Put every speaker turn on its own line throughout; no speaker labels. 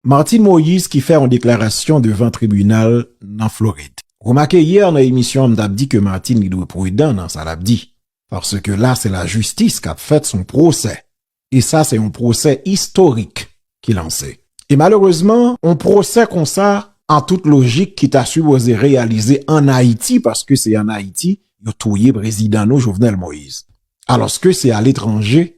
Martine Moïse ki fè yon deklarasyon devan tribinal nan Florid. Ou remake yè nan emisyon an m tap di ke Martine li dwe prudan nan sa lap di paske la se lajistis kap fèt son pwosè e sa se yon pwosè istorik ki lanse e malerezman yon pwosè konsa an tout lojik ki ta sipoze reyalize an Ayiti paske se an Ayiti yo touye prezidan nou Jovenel Moïse alòske se aletranje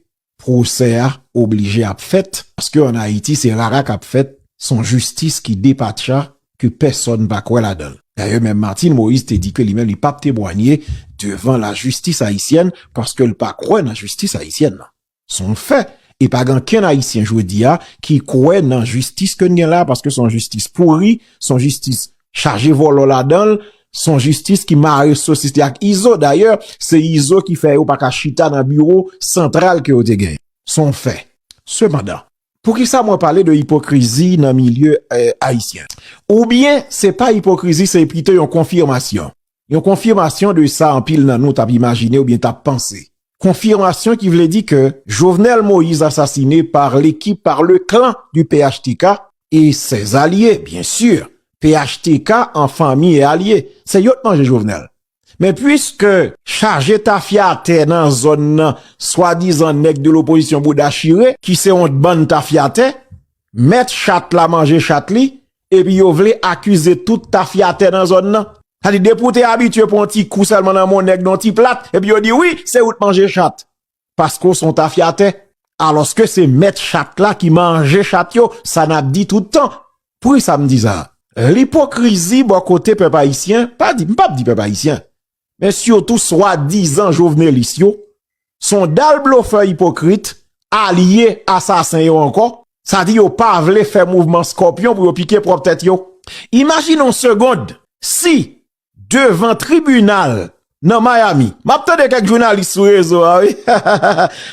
Pwosè a oblije ap fèt paske an Ayiti se rara kap fèt, son jistis ki depatcha ke pèsòn pa kwè ladan l. Dayè menm Martine Moïse te di ke li menm li pap temwanye devan lajistis ayisyèn paske l pa kwè nan jistis ayisyèn nan. Son fè e pa gen ankenn ayisyen jodi a ki kwè nan jistis ke n gen la paske son jistis pouri, son jistis chaje vòlò ladanl, son jistis ki mare sosis li ak Izo, dayè se Izo ki fè yo pa ka chita nan biwo santral ke yo te genyen, son fè. Sepandan, poukisa mwen pale de ipokrizi nan milye ayisyen? Oubyen se pa ipokrizi se pito yon konfirmasyon? Yon konfimasyon de sa anpil nan nou tap imajine oubyen tap panse. Konfimasyon ki vle di ke Jovenel Moïse asasine par l'ekip, par le clan du phtk et ses alliés bien sur. Phtk en fanmi et alye. Se yo t manje Jovenel. Men puiske chaje tafya atè nan zòn nan swadizan nèg de l'opposition bouda chire ki se yon bann tafyatè, mèt chat la manje chat li, Epi yo vle akize tout tafyatè nan zòn nan. Sa di depi w te abitye pran yon ti kou sèlman nan men yon nèg nan yon ti plat, epi yo di wi, se ou t manje chat. Paske w se yon tafyatè. Alòske se mèt chat la ki manje chat yo, sa n ap di tout tan. Poukisa m di sa? Lipokrizi bò kote pèp ayisyen, m pa di, m p ap di pèp ayisyen. men sitou swa dizan jovenelis yo, son dal blofè ipokrit, alye asasen yo ankò, sa di yo pa vle fè mouvman skòpyon pou yo pike pwòp tèt yo. Imajine yon segond, si devan tribinal nan Miami, m ap tande kèk jounalis sou rezo a wi,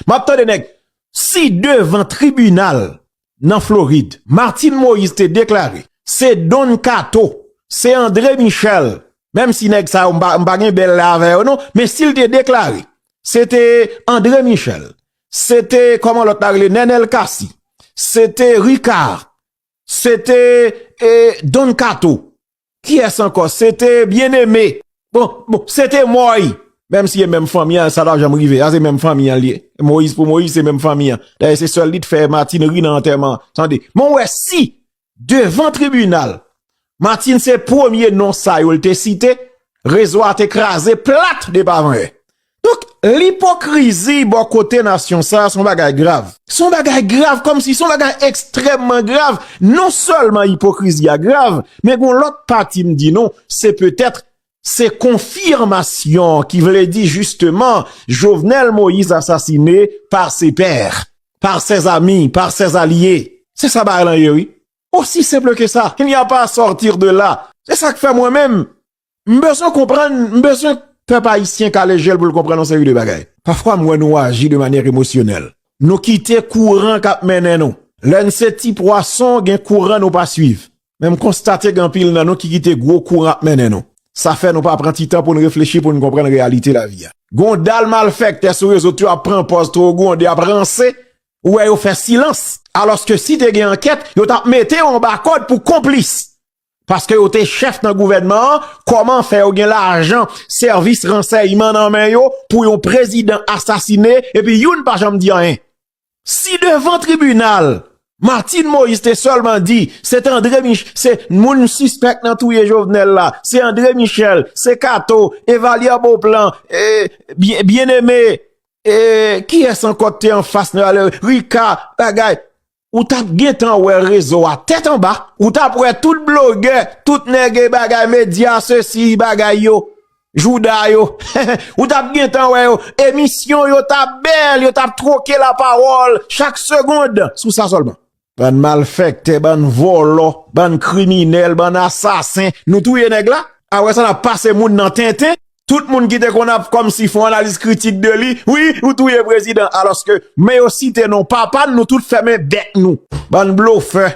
m ap tande nèg, si devan tribinal nan Florid. Martine Moïse te deklare se Don Kato, se André Michel, menm si nèg sa yo m pa gen bèl lè avè yo non, men si l te deklare se te André Michel, se te kòman lòt la rele Nenel Cassy, se te Ricard, se te Don Kato. Kiyès ankò? Se te Byeneme. Bon, bon, se te Mòy! Menm si e menm fanmi an, sa pa janm rive. Sa se menm fanmi an li ye. Moyiz pou Moyiz, se menm fanmi an. Dayè se sèl li te fè Matin ri nan antèman an. Tande, men w wè si devan tribinal, Matin se premye non sa yo l te site, rezo a te kraze plat depi avan yè. Donk, lipokrizi bò kote nasyon sa a son bagay grav. Son bagay grav kòm si son bagay ekstrèmman grav. Non sèlman ipokrizi a grav, men gon lòt pati m di nou, se petèt se konfirmasyon ki vle di jisteman Jovenel Moïse asasine pa se pè, pa se zami, pa se zalye. Se sa bagay lan ye wi. Osi senple ke sa. Il n'y a pas à sortir de là. Se sa k fè mwen menm, M bezwen konprann, m bezwen pèp ayisyen kale je l pou l konprann yon seri de bagay. Pafwa m wè nou aji de manyè emosyonèl. Nou kite kouran k ap mennen nou. Lè n se ti pwason, gen kouran nou pa suiv. Men m konstate gen anpil nan nou ki kite gwo kouran ap mennen nou. Sa fè nou pa pran ti tan pou n reflechi, pou n konprann reyalite lavi a. Gen yon dal malfèktè sou rezo tou yo ap pran pòz twò gwonde, ap ranse. Ou wè yo fè silans. Alòske si te gen ankèt, yo t ap mete yo anba kòd pou konplis. Paske yo te chèf nan gouvènman an, kòman fè yo gen lajan sèvis ransèyman nan men yo pou yon prezidan asasine epi youn pa janm di anyen? Si devan tribinal, Martine Moïse te sèlman di, se te André Michel, se moun sispèk nan touye Jovenel la, se André Michel, se Kato, Evalière Beauplan, Bien-Aimé, e kiyès ankò te anfas nan, Ricard, bagay, Ou tap gentan wè rezo a tèt anba, ou tap wè tout blogè, tout nèg e bagay medya se si bagay yo, jouda yo, ou tap gentan wè yo, emisyon yo tap bèl, yo tap troke la pawòl chak segond sou sa sèlman. Bann malfèktè, bann vòlò, bann kriminèl, bann asasen, nou touye nèg la? A wè sa nap pase moun nan tenten? Tout moun ki te konn ap kòmsi fon analiz kritik de li, wi ou touye prezidan alòske men yo site non papa n nou tout fèmen bèk nou. Bann blofè.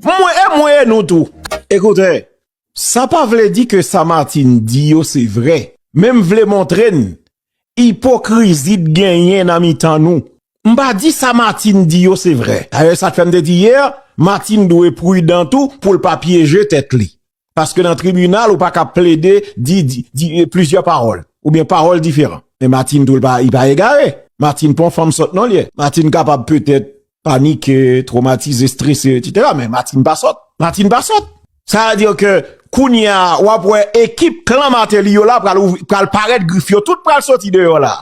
Mwen e mwen e nou tou. Ekoute, sa pa vle di ke sa Martine di yo se vre, men m vle montre n ipokrizi t genyen nan mitan nou. M pa di sa Martine di yo se vre. Dayè sa k fè m te di yè, Martine dwe prudan tou pou l pa pyeje tèt li. Paske nan tribinal ou pa ka plede di plizyè pawòl oubyen pawòl diferan. Men Martine tou li pa egare. Martine pa yon fanm sòt non li ye. Martine kapab petèt panike, twomatize, strese etsetera men Martine pa sòt. Martine pa sòt. Sa vle di ke kounye a w ap wè ekip klan Martelly yo la pral parèt grif yo tout pral sòti deyò la.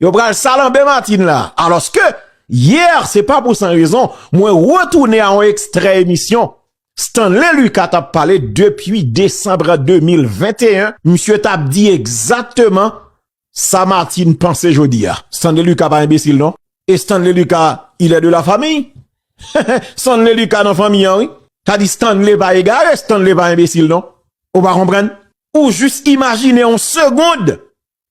Yo pral salanbe Martine la. Alòske yè se pa pou san rezon mwen retounen a yon ekstrè emisyon Stanley Lucas t ap pale depi desanm 2021, misye t ap di egzakteman sa Martine panse jodi a. Stanley Lucas pa enbesil non. E Stanley Lucas il est de la famille? Stanley Lucas nan fanmi an wi. Sa di Stanley pa egare, Stanley pa enbesil non. Ou pa konprann? Ou jis imajine yon segond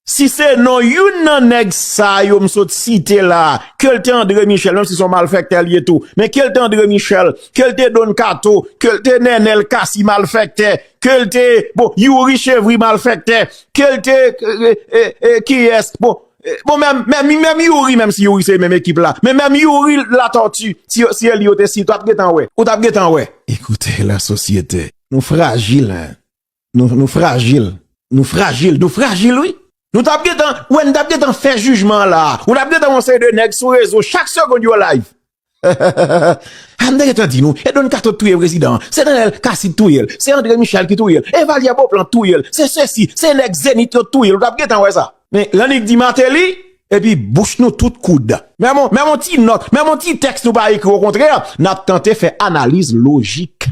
Si se non youn nan nèg sa yo m sot site la, ke l te André Michel, menm si se yon malfèktè l ye tou, men ke l te André Michel, ke l te Don Kato, ke l te Nenel Cassy malfèktè, ke l te, bon, Youri Chevry malfèktè, ke l te, e, kiyès, bon, bon menm, menm Youri, menm si Youri se menm ekip la, men menm Youri Latortue, si yo, si yo li yo te site, w ap gen tan wè, w ap gen tan wè. Ekoute la sosyete, nou frajil hein. Nou frajil, nou frajil, nou frajil wi. Nou tap gentan, wè nou tap gentan fè jijman an la. Ou tap gentan wè yon seri de nèg sou rezo chak segond yo live. An nou te gentan di nou, e Don Kato t touye prezidan an, se Nenel Cassy t touye l, se Andre Michel ki touye l, e Valyer Beauplan t touye l, se sesi, se nèg Zenith yo t touye l, ou tap gentan wè sa. Men, lè nèg di Martelly, epi bouch nou tout koud. Menm yon, menm yon ti nòt, menm yon ti tèks nou pa ekri, okontrè, nap tante fè analiz lojik.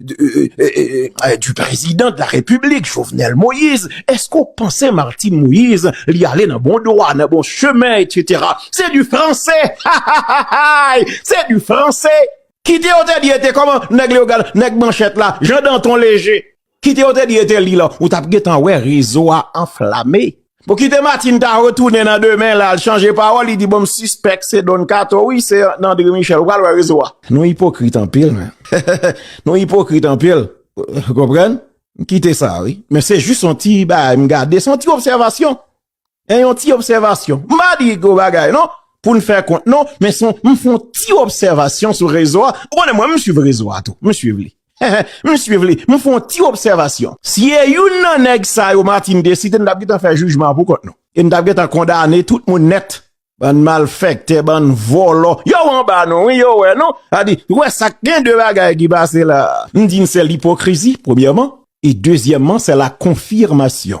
du prezidan de la repiblik Jovenel Moïse, eske ou panse Martine Moïse li ale nan bon dwa, nan bon chemen etc. Se du franse ha ha ha hay se du franse. Kite yo te di e te koman neg leogal neg manchet la jean danton leje kite yo te di e te li la ou tap gentan we rezo a anflame. Bon kite Martine ta retounen nan demen la al chanje pawòl li di bon m sispèk se Don Kato wi se nan Andre Michel ou pral wè rezo a. Nou ipokrit anpil men. Nou ipokrit anpil ou konprann m kite sa wi men se jis yon ti bagay m gade se yon ti obsèvasyon en yon ti obsèvasyon m pa di gwo bagay non pou n fè kont non men son m fon ti obsèvasyon sou rezo a ou konnen mwen m swiv rezo a tou m swiv li. M swiv li. M fè yon ti obsèvasyon. Si e youn nan nèg sa yo Martine te site, nou tap gentan fè jijman an pou kont nou. E nou tap gentan kondane tout moun nèt. Bann malfèktè, bann vòlò. Yo anba nou wi, yo wè nou. A di, ou wè sa k gen de bagay ki pase la. M di n se lipokrizi, premyèman. E dezyèman, se la konfirmasyon.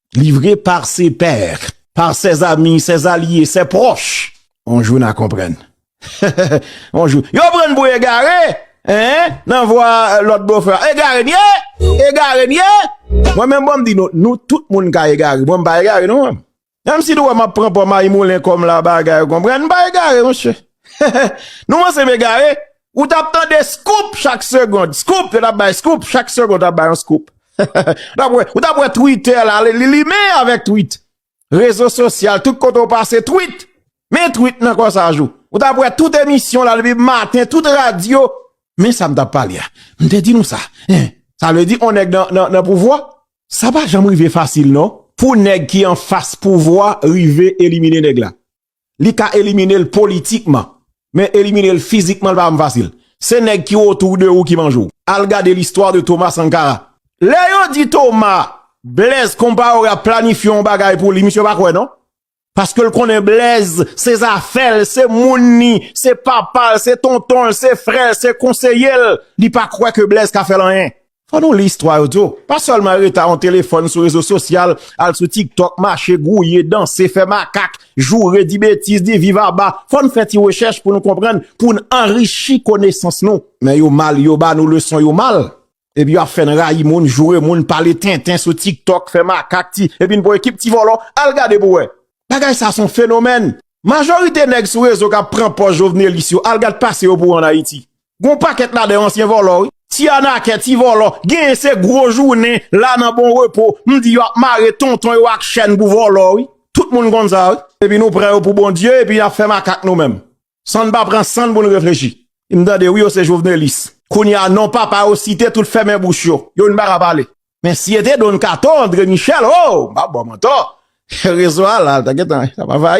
Livre par ses pairs, par ses amis, ses allies, ses proches. On jou na konprann. On jou. Yo pran n pou egare! Eeh! Nan vwa lòt bofè a. Egare n ye! Egare n ye! Mwen menm bon m di nou, nou tout moun ka egare. Mwen m pa egare non mwen. Menm si nou wè m ap pran pò mayimoulen kò m la bagay ou konprann. M pa egare mouche. Nou panse m egare? Ou tap tande scoop chak segond. Scoop, yo tap bay scoop chak segond tap bay yon scoop. Ou tap wè Twitter la, li limen avèk tweet. Rezo sosyal, tout kote ou pase tweet. Men tweet nan kò sa jou. Ou tap wè tout emisyon la depi maten, tout radyo. Men sa m tap pale a. M te di nou sa. Sa vle di on nèg nan pouvwa. Sa pa janm rive fasil non. Pou nèg ki an fas pouvwa rive elimine nèg la. li ka elimine l politikman men elimine l fizikman li pa janm fasil se nèg ki otou de ou ki manje w al gade listwa de Thomas Sankara lè yo di Thomas Blaise Compaoré ap planifye yon bagay pou li misye pa kwè non paske l konnen Blaise se zafè l se moun ni se papa l se tonton l se frè l se konseye l li pa kwè ke Blaise ka fè l anyen Fò nou li istwa yo tou. Pa sèlman rete a yon telefòn sou rezo sosyal, al sou tiktok, mache, gouye, danse, fè makak, joure, di betiz, di viv aba. Fò n fè ti rechèch pou nou konprann, pou n anrichi konesans nou. Men yo mal, yo ba nou leson yo mal. Epi yo ap fè n rayi moun, joure moun, pale tenten sou tiktok, fè makak, ti, epi n pou ekip ti vòlò. Al gade pou wè. Bagay sa son fenomèn. Majorite nèg sou rezo k ap pran pòz jovnelis yo, al gad pase yo pou wè an Ayiti. Gon pakèt ladan yo ansyen vòlò wi, ti anakè, ti vòlò, genyen se gwo jounen la nan bon repo, m di yo ap mare tonton yo ak chèn pou vòlò wi, tout moun konn sa wi. Epi nou pran yo pou Bondye epi nap fè makak nou menm san n pa pran san n pou n reflechi. M tande wi yo se jovenelis kounye a non papa yo site tout fèmen bouch yo, yo vin paka pale. Men si e te Don Kato, Andre Michel, oh! M pap ba w mantò, rezo a la, ta gentan, l ap anvayi.